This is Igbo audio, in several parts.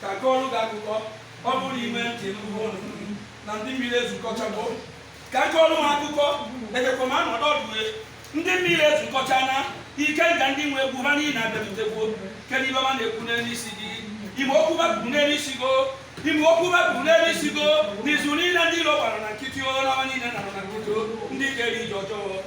ka kọọrọ gị akụkọ ọ bụrụ na ime ntị n'ugbo na ndị mmiri ezukọchago ka kọọrọ m akụkọ ejekwa m anọdụ ọdụwe ndị mmiri ezukọcha na ike nga ndị nwe egwu ha niile abịarutegwo kedu ibe ma na-ekwu n'elu isi gị ime okwu bapụrụ n'elu isi gị o ime okwu bapụrụ n'elu isi gị o n'izu niile ndị iro gbara na nkịtị o n'ọnwa niile nara na nkịtị o ndị kere ije ọjọọ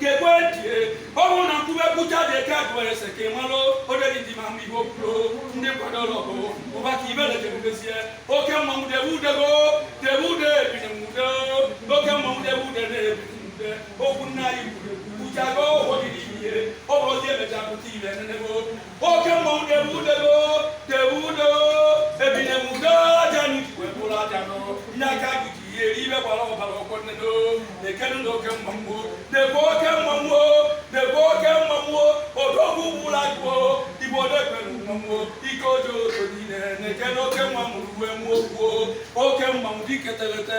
kekwe tie ọ bụrụ na nkwube kwucha dị eke abụọ ese ka ị malụ oderi ndị ma mgbe ihe okwuro ndị nkwado ọlọgụ ụba ka ibele jebubezie oke mmanwụ debe udego debe ude ebinye nwude oke mmanwụ debe ude na-ebinye nwude okwu nna anyị kwuru kwuchago ụhọ dị n'ihe ọ bụrụ ozi emecha pụta ile nenebo oke mmanwụ debe udego debe ude ebinye nwude aja ni tuwe bụrụ aja nụ nye aka gị ji ihe ibe gbara ọbara ọkụ nne do na-ekenu na oke mmanwụ debe oke mmanwụ debe oke mmanwụ odogwu gburu agụ igbo na-ekwere mmanwụ ike ojoto niile na-ekene oke mmanwụ uwe mmụọ kwuo oke mmanwụ dike terete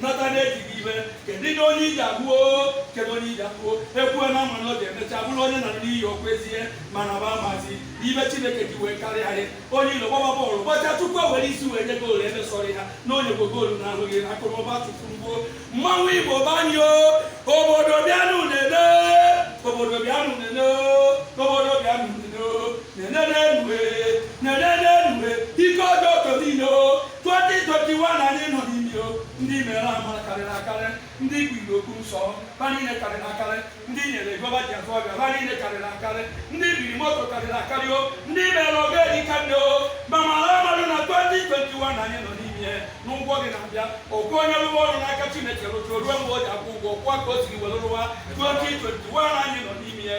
nata na-ejighị ibe kedu ihe onye iji abụo kedu onye iji abụo ekwuo na ama na ọ ga-emecha bụrụ onye nara n'iyi okwu ezie mana ba amazi ibe chineke ji wee karịa anyị onye ilo gbaba bọọlụ gbacha tupu e were isi wee nye goolu emesọrọ ha na onye bụ goolu na ahụghị na akụrụba tukwurugbo mmanwụ igbo be anyị o obodo bịanụ nene obodo bịanụ nene obodo bịanụ nene nene nenu nene nenu ike ojoto niine 2021 anyị nọ n'ime o ndị mere amara karịrị akarị ndị kwuru okwu nsọ ha niile karịrị akarị ndị nyere gova ji azụ ọbịa ha niile karịrị akarị ndị biri moto karịrị akarị o ndị mere oge dịka nne o ma mara amarụ na 2021 anyị nọ n'ime ya na ụgwọ gị na-abịa okwu onye rụwa ọrụ n'aka chineke rụtụ ruo mgbe o ji akwụ ụgwọ kwa ka o siri were rụwa 2021 anyị nọ n'ime ya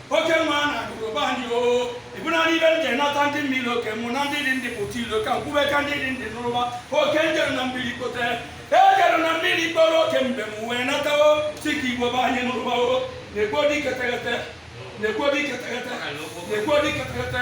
oke nwa a na-agụrụ be anyị o ịbụ naanị ibe m ji nata ndị mmiri oke mụ na ndị dị ndị pụta ilo ka nkwube ka ndị dị ndị nụrụba oke m jere na mmiri kpote ejere na mmiri kpọrọ oke mgbe m wee natawo sị ka igbo be anyị nụrụbawo na-ekwo dị keteghete na-ekwo dị keteghete na-ekwo dị keteghete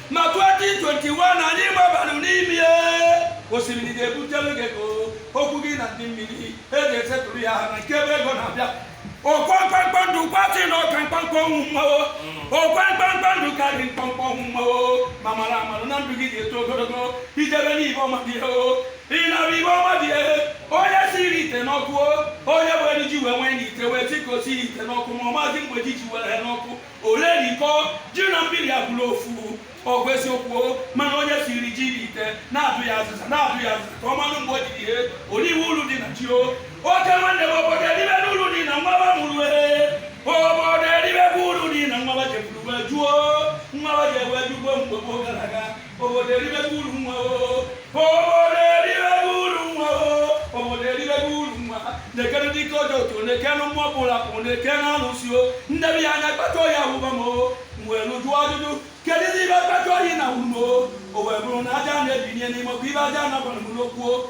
ma 2021 anyị gbabalụ n'ime ya osimiri ga-ebutelu gị ego okwu gị na ndị mmiri e ga-esetụrụ ya ha na nke ebe ego na-abịa ọ kwa mkpamkpa ndụ kwasị na ọ ka mkpamkpa ọnwụ mmanwụ ọ kwa mkpamkpa ndụ karịrị mkpamkpa ọnwụ mmanwụ ma mara amara na ndụ gị ga-eto ogologo ijebe n'ihe ọma dị ihe o ị nara ihe ọma dị ihe onye siri ite n'ọkụ o onye were ji wee nwee n'ite wee sikwasị ite n'ọkụ ma ọ mazi mgbe ji ji were ya n'ọkụ orerikọ ji na mmiri abụlụ ofu ọ bụ eziokwu mana onye siri ji n'ite na-adụ ya azịza na-adụ ya azịza ka ọ manụ mgbe o jiri ihe o riwe ulu dị na ji o oke nwanne m obodo eribe n'ulu dị na nwa ba mụrụ ee obodo eribe bụ ulu dị na nwa ba jefuru wee juo nwa ba ji ewe jugbo mgbe gboo gara aga obodo eribebe uru nwa o obodo eribebe uru nwa o obodo eribebe uru nwa na-ekene ndị ike Ojoto na-ekene mmụọ pụrụ apụ na-ekene alụsị o ndebi ya anya kpata oyi awụba m o wee jụọ ajụjụ kedu ife kpata oyi na wuru m o o wee bụrụ na aja na-ebinye n'ime ọkụ ibe aja na-agbanụ m n'okwu o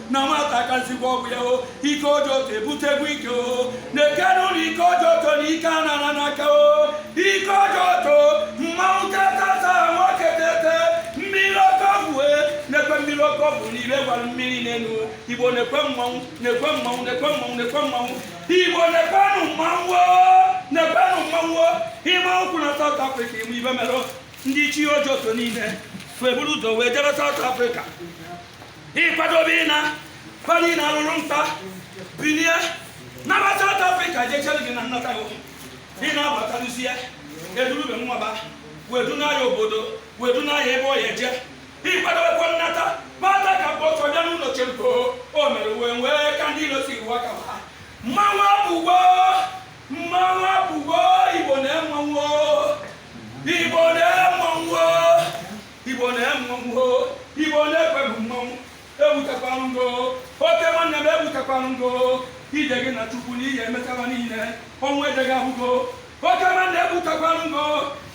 na nwata akarịsịgwo ọgbọ ya o ike Ojoto ebutegwo ike o na-ekene ụlọ ike Ojoto na ike a nara n'aka o ike Ojoto mmanwụ tetata nwoke tete mmiri oke ọgwụ e na-ekwe mmiri oke ọgwụ n'ire gwara mmiri n'elu igbo na-ekwe mmanwụ na-ekwe mmanwụ na-ekwe mmanwụ na-ekwe mmanwụ igbo na-ekwenụ mmanwụ na-ekwenụ mmanwụ ịma ụkwụ na South Africa ị ma ife mere ndị ichie Ojoto niile wee buru ụzọ wee jebe South Africa ịkwadobe ịna kwanye na alụrụ nta bilie naba South Africa jee chere gị na nnata gị ị na-abatalụzie edurube nwaba wee duna ya obodo wee duna ya ebe ọ ya-eje ịkwadobekwa nnata bata ka bụ ọtọ bịa n'ụlọ cheruko o mere wee wee ka ndị ilo si iwu aka ha mmanwụ abụwo mmanwụ abụwo igbo na-emenwo igbo na-emenwo igbo na-emenwo igbo na-ekwebụ mmanwụ ebutekwanụ ugo oke nwanne m ebutekwanụ ugo ije gị na chukwu na ihe emechaba niile ọnwụ ejeghị ahụgo oke nwanne ebutekwanụ ugo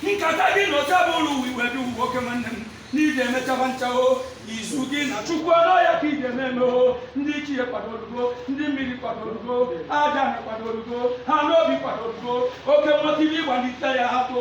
nkata gị na oche bụ ụlọ uwe igwe dị uwe oke nwanne m na ije emechaba nchawo izu gị na chukwu ọnụ ya ka ije na-eme o ndị ichie kwadorugo ndị mmiri kwadorugo Ajana kwadorugo ana obi kwadorugo oke nwoke ibe ịgbalite ya atụ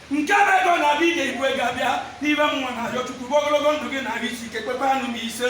nke bụ ego na-abịa ide igwe ga-abịa n'ime mmụọ na-arịọ Chukwu ogologo ndụ gị na ahụ isi ike kpekpe anụ m ise